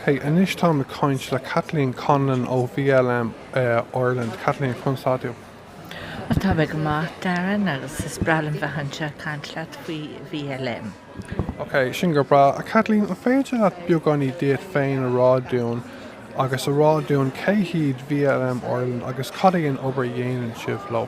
Hey, anois táim ag caint le Kathleen Conlon ó VLM Ireland. Kathleen, conas atá tú. Bhuel, táim ag maith, Darren, agus is breá liom bheith anseo ag caint leat faoi VLM. Ok, sin go breá. Kathleen, an féidir leat beagáinín díot féin a rá dúinn agus a rá dúinn cé hiad VLM Ireland agus cad é an obair a dhéanann sibh leo?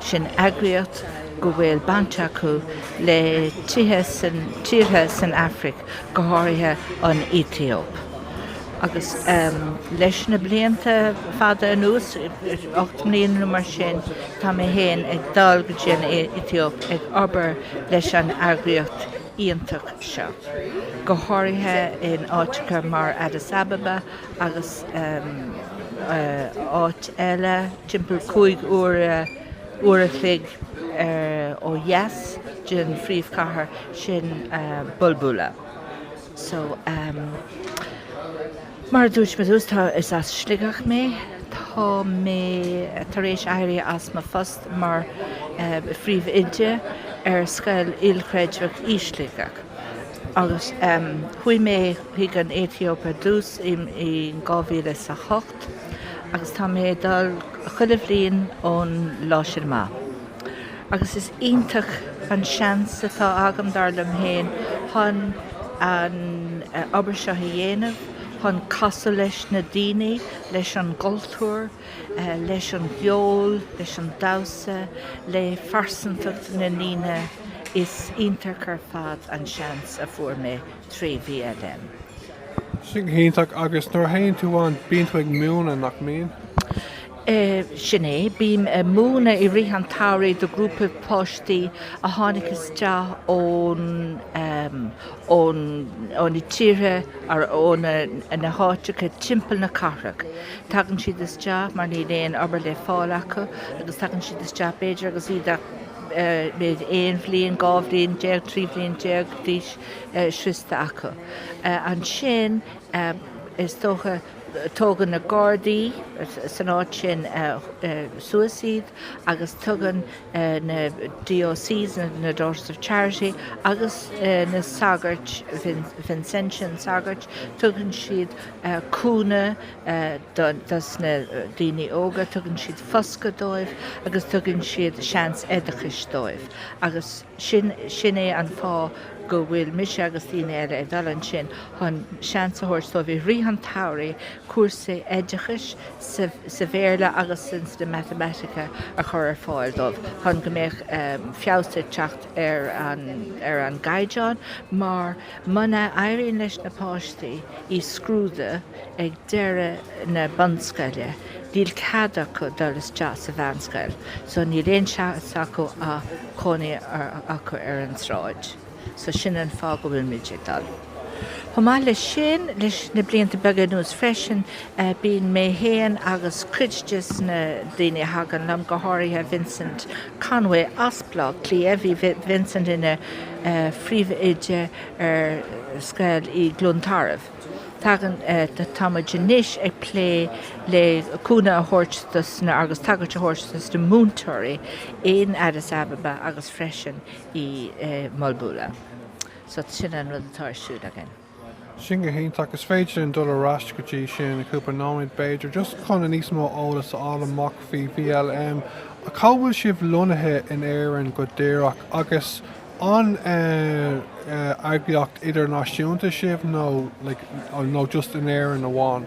Sin eagraíocht go bhfuil baint acu le tíortha san Afraic, go háirithe an Aetóip. Agus leis na blianta fada anuas, ocht mbliana nó mar sin, tá mé féin ag dul go dtí an Aetóip ag obair leis an eagraíocht iontach seo, go háirithe in áiteacha mar Addis Ababa, agus áit eile timpeall cúig uair a chloig ó dheas den phríomhchathair sin Bulbula. So, mar a dúirt mé, tá, is as Sligeach mé, tá mé tar éis éirí as mo phost mar phríomhoide ar scoil ilchreidmheach i Sligeach. Agus chuaigh mé chuig an Aetóip ar dtús i 2008 agus tá mé ag dul chuile bhliain ón lá sin amach. Agus is iontach an seans atá agam, dar liom féin, chun an obair seo a dhéanamh, chun casadh leis na daoine, leis an gcultúr, leis an gceol, leis an damhsa, le pearsantacht na ndaoine is iontach ar fad an seans a fuair mé trí VLM. Sin go hiontach, agus nuair a théann tú ann bíonn tú ag múineadh, nach mbíonn? Sin é, bím ag múineadh i rith an tsamhraidh do ghrúpa páistí a tháinig isteach ón. ó na tíortha agus ó na háiteacha timpeall na cathrach. Tagann siad isteach mar níl aon obair le fáil acu agus tagann siad isteach b'fhéidir agus iad ach b'fhéidir aon bhliain, dhá bhliain déag, trí bhliain déag d'aois sroichte acu. Ansin is dócha. Tógann na Gardaí san áit sin suas iad agus tugann na DOCs, na Daughters of Charity, agus na sagairt, Vincentian sagairt, tugann siad cúnamh dos na daoine óga, tugann siad foscadh dóibh agus tugann siad seans oideachais dóibh agus. Sin, sin é an fáth go bhfuil mise agus daoine eile ag dul ansin, chun seans a thabhairt dóibh i rith an tsamhraidh cúrsaí oideachais sa, sa Bhéarla agus san, sna Matamaitice a chur ar fáil dóibh chun go mbeadh feabhas ag teacht ar an, ar an gcaighdeán mar. Muna éiríonn leis na páistí i scrúdú ag deireadh na bunscoile, níl cead acu dul isteach sa mheánscoil, so níl aon seans acu ach cónaí acu ar an tsráid. So sin an fáth go bhfuilimid ag dul. Chomh maith le sin, leis na blianta beaga anuas freisin, bíonn mé fhéin agus cuid dos na daoine a thagann liom, go háirithe Vincent Conway as Baile Átha Cliath, bhí Vincent ina phríomhoide ar scoil i gCluain Tarbh. Tagann, tá muid anois ag plé le cúnamh a thabhairt dos na, agus tacaíocht a thabhairt dos na múinteoirí in Addis Ababa agus freisin i Bulbula. So sin an rud atá ar siúl againn. Sin go hiontach. Is féidir linn dul ar ais go dtí sin i gcúpla nóiméad b'fhéidir, just chun níos mó eolas a fháil amach faoi VLM. Cá bhfuil sibh lonnaithe in Éirinn go díreach? Agus an eagraíocht idirnáisiúnta sibh nó like nó just in Éirinn amháin?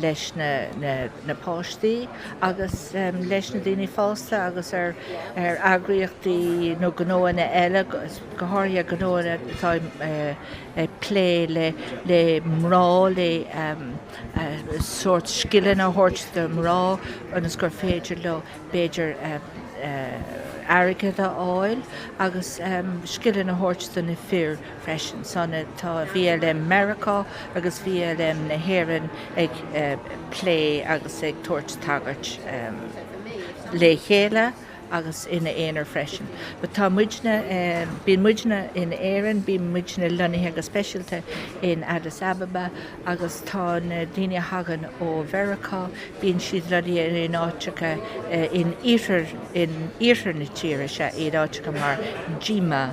leis na páistí agus leis na daoine fásta agus ar eagraíochtaí nó gnóanna eile, go háirithe gnóanna atá ag plé le mná, le sórt scileanna a thabhairt do mná ionas gur féidir leo b'fhéidir airgead a fháil agus scileanna a thabhairt do na fir. freisin so tá VLM Mheiriceá agus VLM na hÉireann ag plé agus ag tabhairt tacaíocht le chéile agus ina aonar freisin. But tá muidne, bíonn muidne in Éirinn, bíonn muidne lonnaithe go speisialta in Addis Ababa agus tá na daoine a thagann ó Mheiriceá, bíonn siad lonnaithe in áiteacha in iarthar na tíre, sea, iad áiteacha mar Jimma,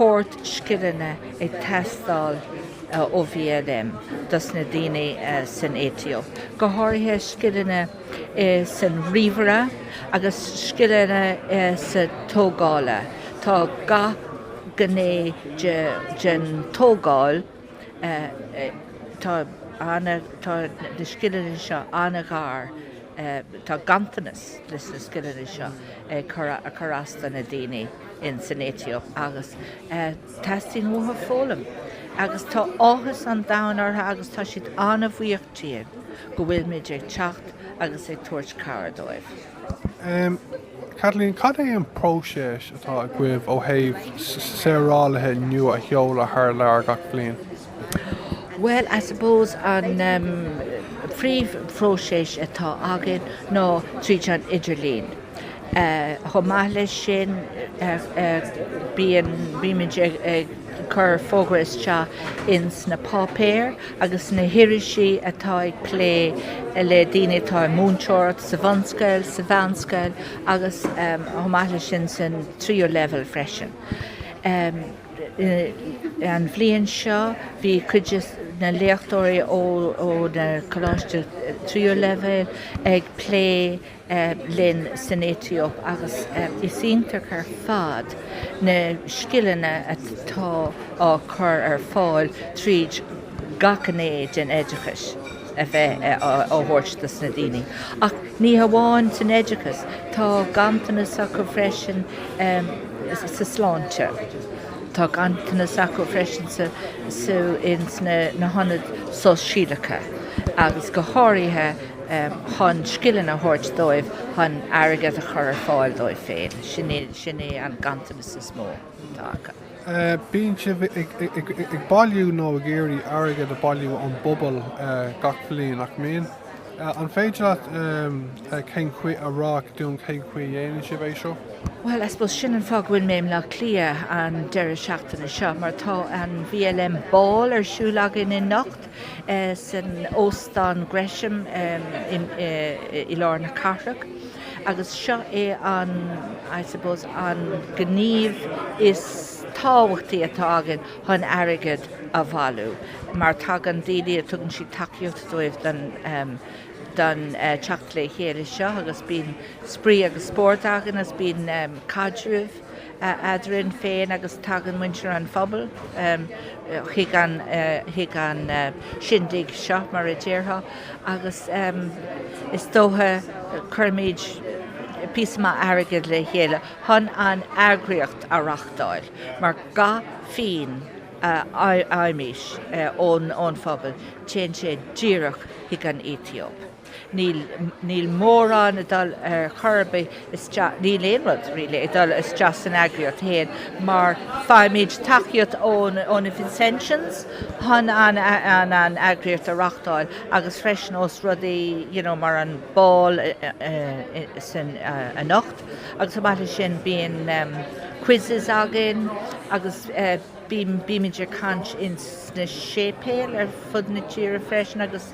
shórt scileanna ag teastáil ó VLM dos na daoine san Aetóip, go háirithe scileanna sa ríomhaire agus scileanna sa tógáil. Tá gach gné den tógáil, tá na scileanna seo an-ghar, tá ganntanas de na scileanna seo ag cur as dos na daoine. insan Aetóip agus teastaíonn uathu foghlaim agus tá áthas an domhain orthu agus tá siad an-bhuíoch dínn go bhfuil muid ag teacht agus ag tabhairt cabhair dóibh. Kathleen, cad é an próiseas atá agaibh ó thaobh saorálaithe nua a sheoladh thar lear gach bliain? Bhuel, I suppose an phríomh phróiseas atá againn ná tríd an idirlíon. Chomh maith leis sin bíonn, bímid ag cur fógra isteach ins na páipéir agus sna hirisí atá ag plé le daoine atá i múinteoireacht, sa bhunscoil, sa mheánscoil agus chomh maith leis sin san tríú leibhéal freisin. An bhliain seo bhí cuid de na léachtóirí ó na coláistí tríú leibhéal ag plé linn san Aetóip agus is iontach ar fad na scileanna atá á chur ar fáil tríd gach gné den oideachais a bheith á thabhairt do na daoine. Ach ní hamháin san oideachas, tá ganntanas acu freisin sa sláinte, tá ganntanas acu freisin sa ins na hionaid shóisialacha agus go háirithe chun scileanna a thabhairt dóibh chun airgead a chur ar fáil dóibh féin, sin é an ganntanas is mó. Bíonn sibh ag bailiú nó ag iarraidh airgead a bhailiú ón bpobal gach bliain, nach mbíonn? An féidir leat cén chaoi a rá dúinn cén chaoi a dhéanann sibh é seo? Bhuel, I suppose sin an fáth go bhfuil mé i mBleá Cliath an deireadh seachtaine seo, mar tá an VLM Ball ar siúl againn anocht. san Óstán Gresham i lár na cathrach agus seo é an, I suppose, an gníomh is tábhachtaí atá againn chun airgead a bhailiú mar tagann daoine, tugann siad tacaíocht dóibh don, don teacht le chéile seo agus bíonn spraoi agus spórt againn agus bíonn caidreamh. eadrainn féin agus tagann muintir an phobail chuig an chuig an shindig seo mar a déarfá agus is dócha cuirimid píosa maith airgead le chéile chun an eagraíocht a reachtáil mar gach pingin a fhaighimid ón ón phobal téann sé díreach chuig an Aetóip. Níl, níl mórán ag dul ar chor ar bith isteach, níl aon rud really ag dul isteach san eagraíocht fhéin mar faighimid tacaíocht ón, ó na Vincentians chun an, an, an eagraíocht a reachtáil agus freisin ó rudaí you know mar an ball anocht agus chomh maith le sin bíonn quizzes againn agus eh, Bímid ag caint sna séipéil ar fud na tíre freisin agus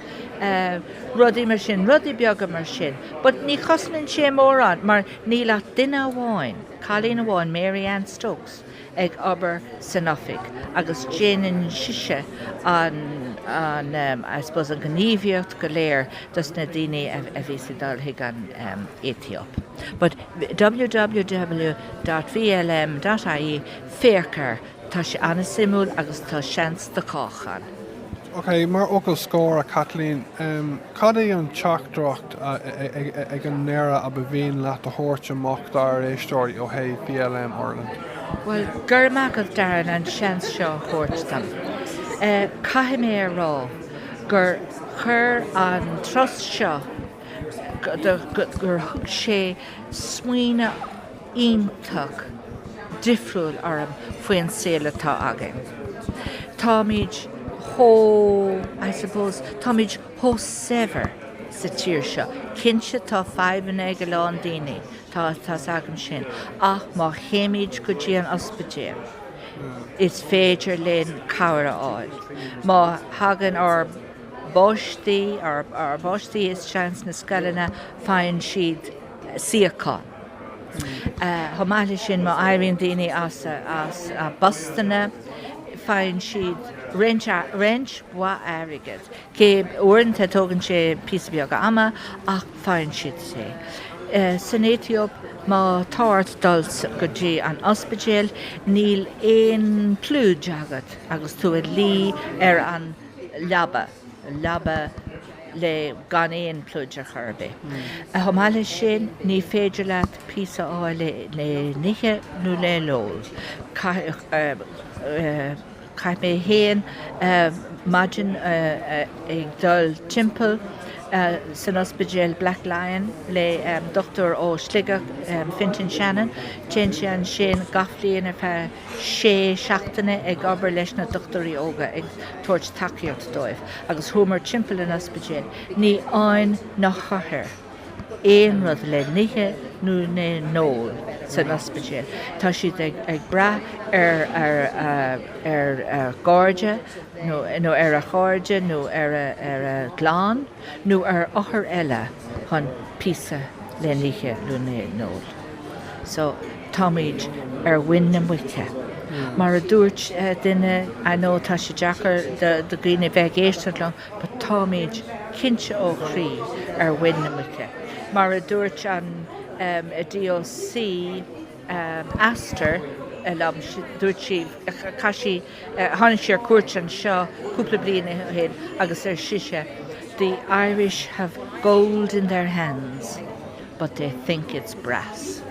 rudaí mar sin, rudaí beaga mar sin. But ní chosnaíonn sé mórán mar níl ach duine amháin, cailín amháin, Mary Anne Stokes, ag obair san oifig agus déanann sise an, I suppose, an ghníomhaíocht go léir dos na daoine a bhíos ag dul go dtí an Aetóip. But www dot vlm dot ie. Féach air, tá sé an-suimiúil agus tá seans do chách ann. OK, mar fhocal scóir, a Chaitlín, cad é an teachtaireacht ag an deireadh ar mhian leat a thabhairt amach dár éisteoirí ó thaobh VLM Ireland? Bhuel, go raibh maith agat, Darren, as an seans seo a thabhairt dom. Caithfidh mé a rá gur chuir an turas seo, gur thug sé smaoineamh, iontach difriúil orm faoin saol atá againn. Táimid chomh, I suppose, táimid chomh saibhir sa tír seo. Cinnte tá fadhbanna ag a lán daoine, tá, tá's agam sin, ach má théimid go dtí an ospidéal is féidir linn cabhair a fháil. Má thagann ár bpáistí, ár bpáistí isteach sna scoileanna, faigheann siad suíochán. Chomh maith leis sin, má éiríonn daoine as a bpostanna, faigheann siad roinnt mhaith airgid. Cé, uaireanta tógann sé píosa beag ama ach faigheann siad é. San Aetóip, má tá ort dul go dtí an ospidéal, níl aon phluid agat agus tú ag luí ar an leaba, leaba le gan aon phluid ar chor ar bith. Chomh maith leis sin, ní féidir leat píosa a fháil le n-ithe nó le n-ól. Chaith mé fhéin maidin ag dul timpeall san ospidéal Black Lion le dochtúir ó Shligeach, Fintan Shannon, téann sé ansin gach bhliain ar feadh sé seachtaine ag obair leis na dochtúirí óga ag tabhairt tacaíocht dóibh agus chuamar timpeall an ospidéil, ní fhaigheann na hothair aon rud le n-ithe nó le n-ól san ospidéal, tá siad ag brath ar ar a gcairde nó ar a chairde nó ar a gclann nó ar othair eile chun píosa le n-ithe nó le n-ól. Táimid ar mhuin na muice. Mar a dúirt duine, I know tá sé deacair do dhaoine bheith ag éisteacht liom but táimid cinnte ó chroí ar mhuin na muice. Mar a dúirt an DOC, Aster, liom, dúirt sí, chaith sí, Tháinig sí ar cuairt anseo cúpla bliain ó shin agus ar sise, 'The Irish have gold in their hands but they think it's brass'.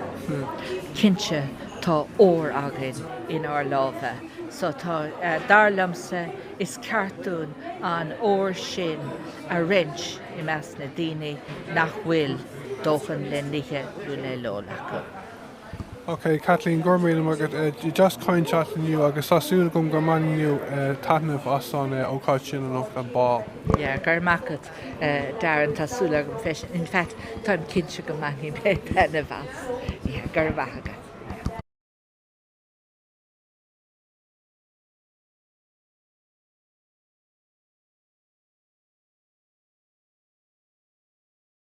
Cinnte tá ór againn inár lámha so tá, dar liomsa, is ceart dúinn an ór sin a roinnt i measc na daoine nach bhfuil dóthain le n-ithe nó le n-ól acu. Ok, Caitlín, go raibh míle maith agat. Bhí sé go deas caint leat inniu agus tá súil agam go mbainfidh tú taitneamh as an ócáid sin anocht, an bál. Yeah, go raibh maith agat, Darren, tá súil agam freisin, in fact, táim cinnte go mbainfidh mé taitneamh as. Yeah, go raibh maith agat.